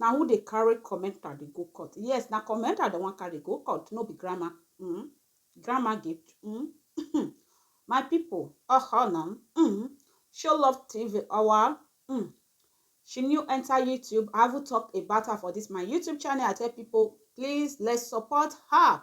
na who dey carry commenter dey go court yes na commenter dem wan carry go court no be grandma mm. grandma gift mm. my people ọhọ na mm. show love tv ọwa mm. she new enter youtube i haven't talk about her for this my youtube channel i tell people please let's support her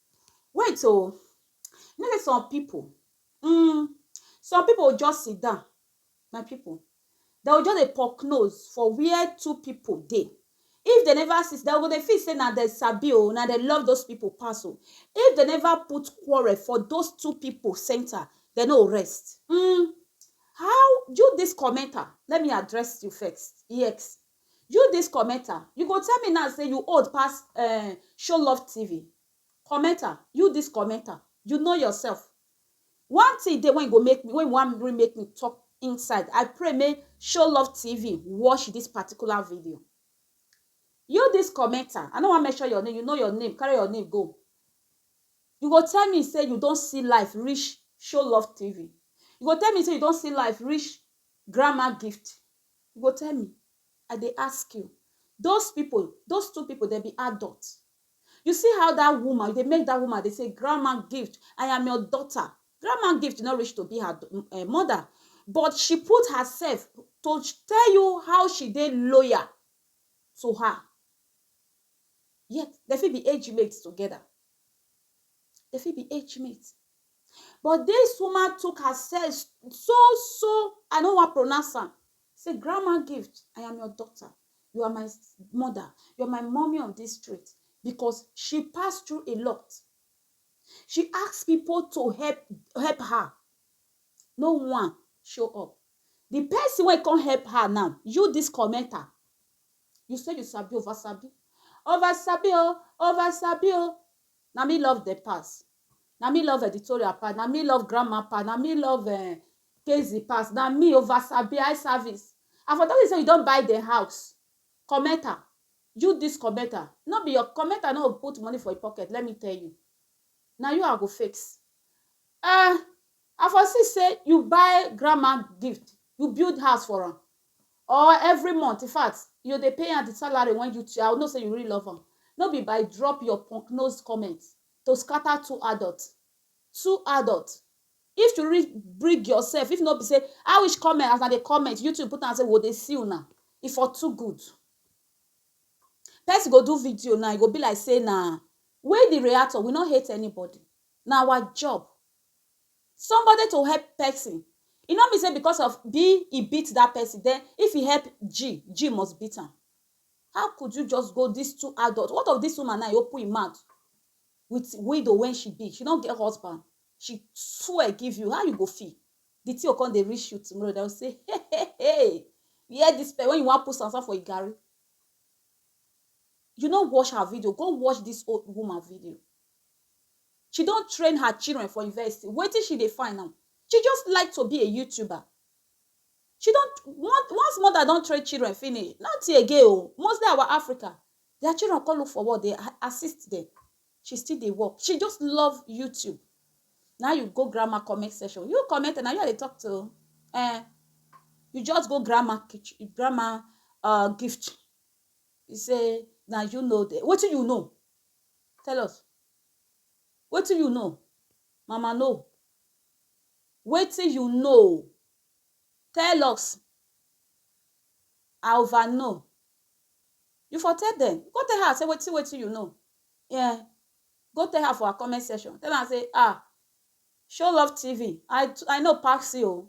Wait o, you know sey some pipu um some pipu go just sit down, my pipu dey go just dey poke nose for where two pipu dey, if dey never see dey go dey feel sey na dem sabi o, na dem love those pipu pass o, if dey never put quarrel for those two pipu centre dey no go rest um how you dis commenter let me address you first, yes You this commenter, you go tell me now say you old pass um show love TV. Commenter, you this commenter, you know yourself. One thing dey when go make me, when one really make me talk inside. I pray make show love TV watch this particular video. You this commenter, I no wan mention your name, you know your name, carry your name go. You go tell me say you don see life reach show love TV. You go tell me say you don see life reach grandma gift. You go tell me, I dey ask you, those people, those two people dem be adult? You see how that woman, you dey make that woman dey say, Grandma Gift, I am your daughter. Grandma Gift no reach to be her eh, mother, but she put herself to tell you how she dey loyal to her. Yet, dem fit be age mates together. Dem fit be age mates. But dis woman took herself so so I no wan pronounce am say grandma gift I am your daughter you are my mother you are my mommy of this street because she pass through a lot she ask people to help help her no one show up the person wey come help her now you this commenter you say you sabi over sabi over sabi o oh, over sabi o oh. na me love the pass na me love editorial pass na me love grandma pass na me love um, Casey pass na me over sabi eye service and for that say you don buy the house comment am you this commenter no be your commenter no put money for your pocket let me tell you na you I go fix uh, I for see say you buy grandma gift you build house for am or every month in fact you dey pay am the salary when you I know say you really love am no be by drop your punk nose comment to scatter two adult two adult if to really bring yourself if no be say i wish comment as i dey comment youtube put am say we dey see una e for too good person go do video now e go be like say na we the reactor we no hate anybody na our job somebody to help person e no mean say because of b e beat that person then if e help g g must beat am How could you just go dis two adult, what of dis woman now e open im mouth with widow wey she be, she no get husband, she swear give you, how you go feel? Di thing go come dey reach you tomorrow dem go say hehehe you hear dis person wey you wan put sand sand for im garri, you no watch her video, go watch dis old woman video, she don train her children for university, wetin she dey find now? She just like to be a youtuber, She don once mother don train children finish nothing again o mostly our Africa their children come look for work dey assist dem she still dey work she just love YouTube now you go grandma comment section you comment na you I dey talk to eh you just go grandma kitchen grandma uh gift you say na you know the wetin you know tell us wetin you know mama no wetin you know tell us I over know. You for tell dem, go tell her say wetin wetin you know. Yeah. Go tell her for her comment section. Tell am say ah show love TV I I know pass you o.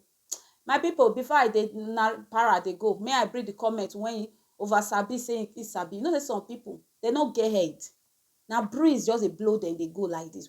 My people before I dey na para dey go may I bring the comment when you over sabi say he sabi. You know say some people they no get head. Na breeze just dey blow dem dey go like this.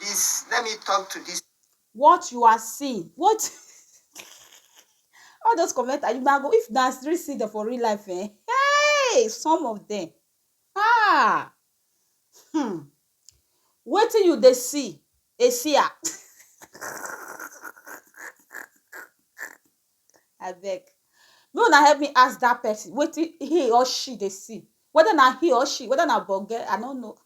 Dis, let me talk to dis. What you are seeing, what all those comments are you go if na really see them for real life eh hey some of them ah hmm wetin you dey see esia abeg make una help me ask dat person wetin he or she dey see weda na he or she weda na bogge i no know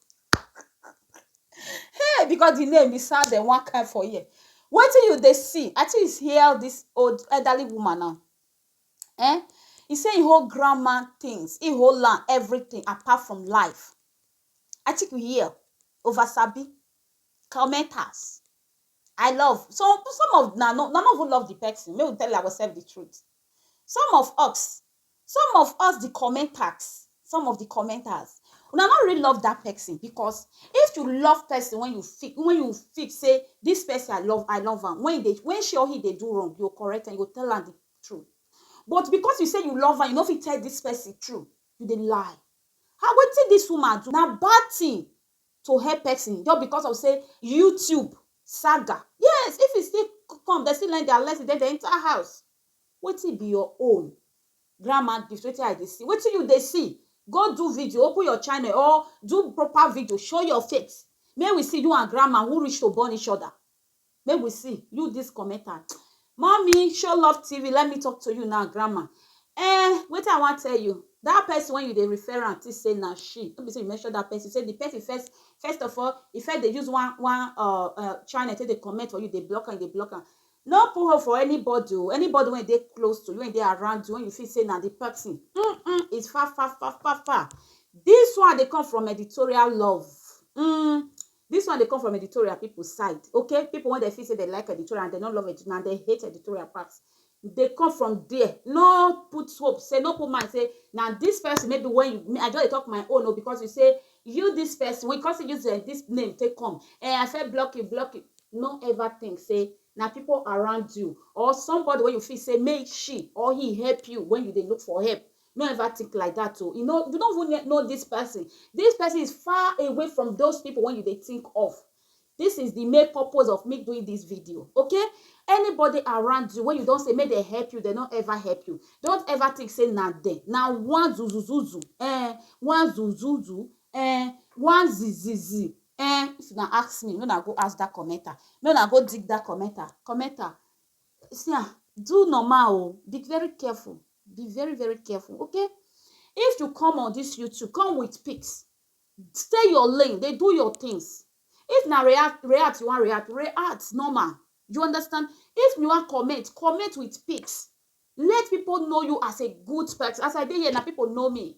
hey because the name e sound um one kind for ear wetin you dey see i think is hear all dis old elderly woman now um he say he hold grandma things he hold am everything apart from life i think you hear over sabi comment house I love some some of na no na no even love the person make we tell ourselves the truth some of us some of us the commenters some of the commenters una no really love that person because if you love person when you feel when you feel say this person I love I love am when they when she or he dey do wrong you go correct am you go tell am the truth but because you say you love am you no fit tell this person true you dey lie how wetin this woman do na bad thing to help person just because of sey YouTube saga. Yes, if e still come, dem still learn their lesson den dem enter house. Wetin be your own? Grandma dis wetin I dey see. Wetin you dey see? Go do video, open your channel or do proper video, show your face. Make we see you and grandma who reach to born each other. Make we see you this commenter mommy show love tv let me talk to you now grandma eh wetin i wan tell you that person when you dey refer am think say na she no be say you mention that person say the person first first of all e first dey use one one uh, uh, channel take dey comment for you dey block am dey block am no put hope for anybody o oh. anybody wey dey close to you wey dey around you when you feel say na the person mm -mm, it's far far far far far this one dey come from editorial love mm, This one dey come from editorial people side ok people wen dem feel say dem like editorial and dem no love and dem hate editorial pass dey come from there no put hope say no put mind say na this person maybe when you I just dey talk my own o oh, because you say you this person we come see use eh, this name take come eh I fit block you block you no ever think say na people around you or somebody wey you feel say make she or he help you when you dey look for help No ever think like that o, you no you no even know this person, this person is far away from those people when you dey think of, this is the main purpose of me doing this video okay, anybody around you when you don say make dem help you dem no ever help you don't ever think say na dem na one zuzuzuzu eh one zuzuzu eh one zizizi eh if una ask me make una go ask that commenter make una go dig that commenter commenter see am do normal o be very careful. be very very careful okay if you come on this youtube come with pics stay your lane dey do your things if na react react you wan react react normal you understand if you wan comment comment with pics let people know you as a good person as i dey here na people know me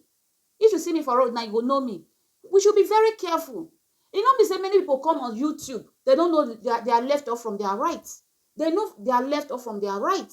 if you see me for road now you go know me we should be very careful e no be say many people come on youtube they don't know their, their left or from their right they know their left or from their right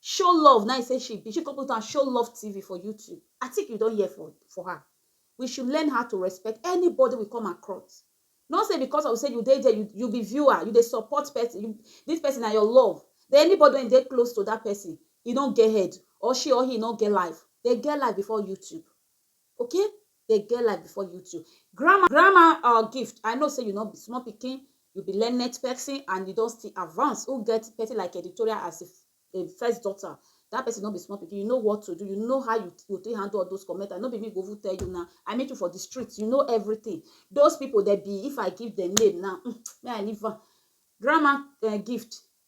show love na im say she be she come put am show love tv for youtube i think you don hear for for her we should learn how to respect anybody we come across no say because of say you dey there you, you be viewer you dey support person you, this person na your love then anybody wey dey close to that person e no get head or she or he no get life they get life before youtube Okay dey get life before you too. Grandma Grandma um Gift, I know say you no be small pikin, you be learned person and you don still advance, who get person like editorial as a a first daughter, that person no be small pikin, you know what to do, you know how you go take handle all those comment, and no be me go even tell you now, I meet you for the street, you know everything. Those people dem be, if I give dem name now, um, make I leave am. Grandma um Gift,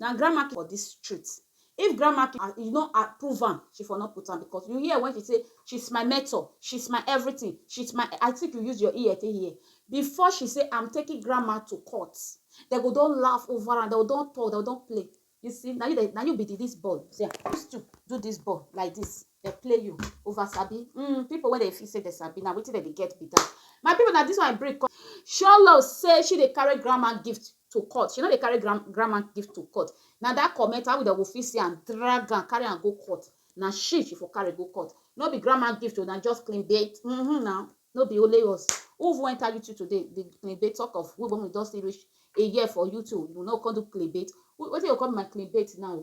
Na grandma pikin for dis street. If grandma pikin you no approve am, she for no put am because you hear when she say she's my mentor, she's my everything, she's my I think you use your ear take hear. Before she say I'm taking grandma to court, dem go don laugh over am, dem go don talk, dem go don play. You see, na you dem, na you be the this ball. See am, use two do this ball like this. They play you over sabi mm, people wey dey feel say they sabi na wetin dem dey get be that my people na this one break come sholo say she dey carry grandma gift to court she no dey carry grand grandma gift to court na that comment how we dey go fit see am drag am carry am go court na she she for carry go court no be grandma gift o na just clean bait mm -hmm, na no be only us who even enter youtube today the clean bait talk of we when we don still reach a year for youtube you no come do clean bait wetin you call my clean bait now